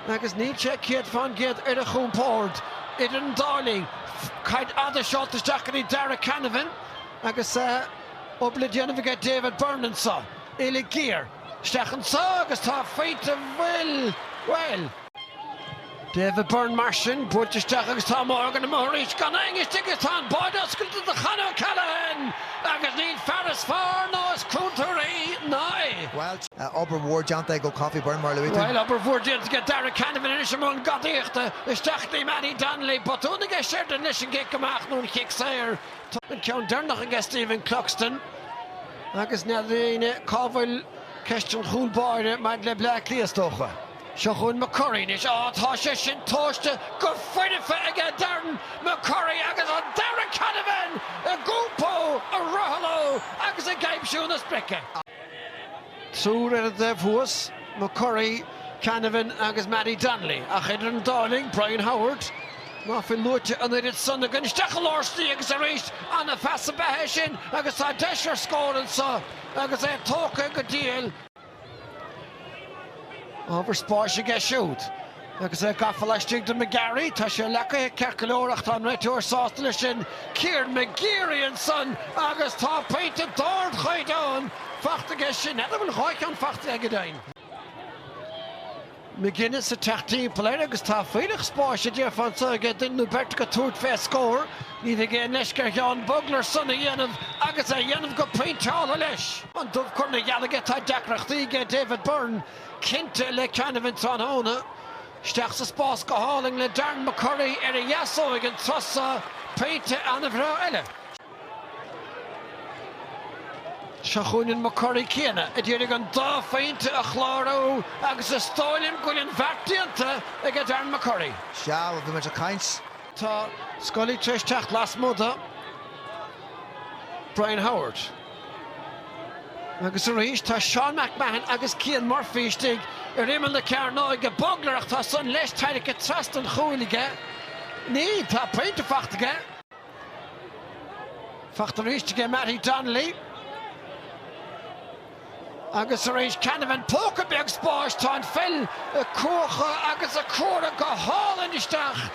agus níl sé céad fán gcéad ar a chompord idir an dá linn. Caid fhada seolta isteach go dtí Darragh Canavan agus obair le déanamh aige David Byrne anseo. Uille ghéar isteach anseo agus tá faighte an phoill, bhuel. David Byrne mar sin, buailte isteach agus tá Morgan amuigh arís gan aon cheist agus tá an báide oscailte do Chon O'Callaghan agus níl fear is fearr ná is contúirtí ná é. obair mhór déanta ag Ó Cofaigh Byrne, mar a luaigh tú. Bhuel, obair mhór déanta aige Darragh Canavan anois i mbun gadaíochta isteach go dtí Mattie Donnelly. Botún aige Sheridan leis an gcic amach nó an chic saor, an ceann deireanach aige Stephen Cluxton agus n'fheadar éinne cá bhfuil ceist an chúl báire maidir le Bleá Cliath, is dócha. Seo chugainn McCurry anois. Á, tá sé sin tomhaiste go foirfe aige Darren McCurry agus an Darragh Canavan ag iompó, ag rothlú agus ag aimsiú na sprice. Triúr ar an dtaobh thuas, McCurry, Canavan agus Mattie Donnelly, ach idir an dá linn, Brian Howard, ná fuil luaite an oiread san againn, isteach i lár slí agus arís. An-phas ab ea é sin agus tá deis ar scór anseo agus é tógtha go diail. Ábhar spáis aige siúd. Agus é gafa laistigh de McGeary, tá sé leagtha ceart go leor ach tá an réiteoir sásta leis sin, Kieran McGeary ansan agus tá pointe d'ardchaighdeán faighte aige sin, ar a bhfuil dhá cheann faighte aige go deimhin. McGinnis ag teacht timpeall air agus tá fuílleach spáis a déarfá anso aige duine nó beirt acu ag tabhairt fé scór. Ní bheidh aon leisce ar Sheán Bugler san a dhéanamh agus é a dhéanamh go pointeálta leis. An dubh curtha ina gheal aige, tá deacrachtaí aige David Byrne Cinnte, le Canavan tráthnóna. Isteach sa spás go hálainn le Darren McCurry ar a dheasóig an turas so, pointe an-bhreá eile. Seo chugainn an McCurry céanna a d'iarraidh an dá phointe a chlárú agus is dóigh liom go bhfuil an bheart déanta aige Darren McCurry. Sea, bhí muid ag caint. Tá Scully tar éis teacht lasmuigh do Brian Howard. Agus arís tá Seán McMahon agus Cian Murphy istigh ar imeall na cearnóige. Bugler ach tá san leis tairrigthe trasna an chúil aige. Ní, tá pointe faighte aige. Faighte arís aige Mattie Donnelly. Agus arís Canavan, póca beag spáis, tá an pheil á cuachadh agus á cuaradh go hálainn isteach.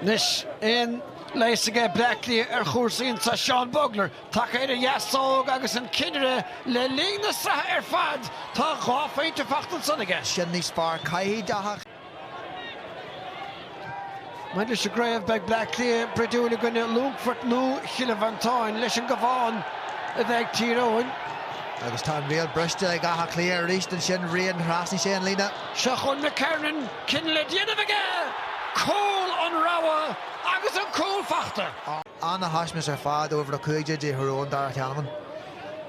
Anois aon leigheas aige Bleácliath ar chúrsaí anso Seán Bugler, tagaithe dtí a dheasóg agus an cinnire le linn na sraithe ar fad, tá dhá phointe fachta ansan aige. Sin níos fearr, caithfidh a theacht. Maidir leis an gcraobh, beidh Bleácliath bruidiúil i gcoinne Longfort nó Chill Mhantáin, leis an gCabhán a bheidh ag Tír Eoghain. Agus tá an riail briste ag Áth Cliath arís ansin, Rian, thrasnaigh sé an líne. Seo chugainn McKernan. cinneadh le déanamh aige, cúl an rogha agus an cúl fachta. Ana thaispeaint ar fad uimhir a 15 de Thír Eoghain Darragh Canavan.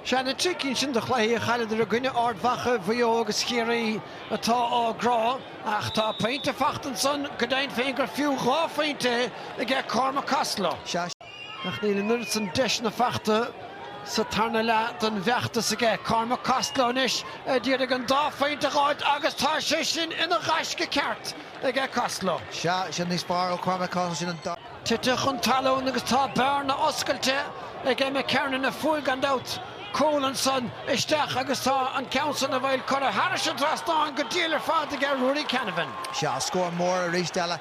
Sé na trí cinn sin de chluichí a chailleadar i gcoinne Ard Mhacha, Mhaigh Eo agus Chiarraí atá á gcrá ach tá pointe fachta ansan go deimhin féin gur fiú dhá phointe aige Cormac Costello. Ach níl an oiread san deiseanna fachta sa tarna leath den bhfeachtas aige. Cormac Costello anois a d'iarraidh an dá phointe a dh'fháilt agus tá sé sin ina ghaisce ceart ag Costello. Sea, sin níos fearr ó Chormac Costello, sin an dá. Tite chun talún agus tá bearna oscailte aige McKernan a fuair, gan dabht, cúl ansan isteach agus tá an ceann san bhuel curtha thairis an trasnáin go diail ar fad aige Ruairí Canavan. Sea, scór mór arís eile.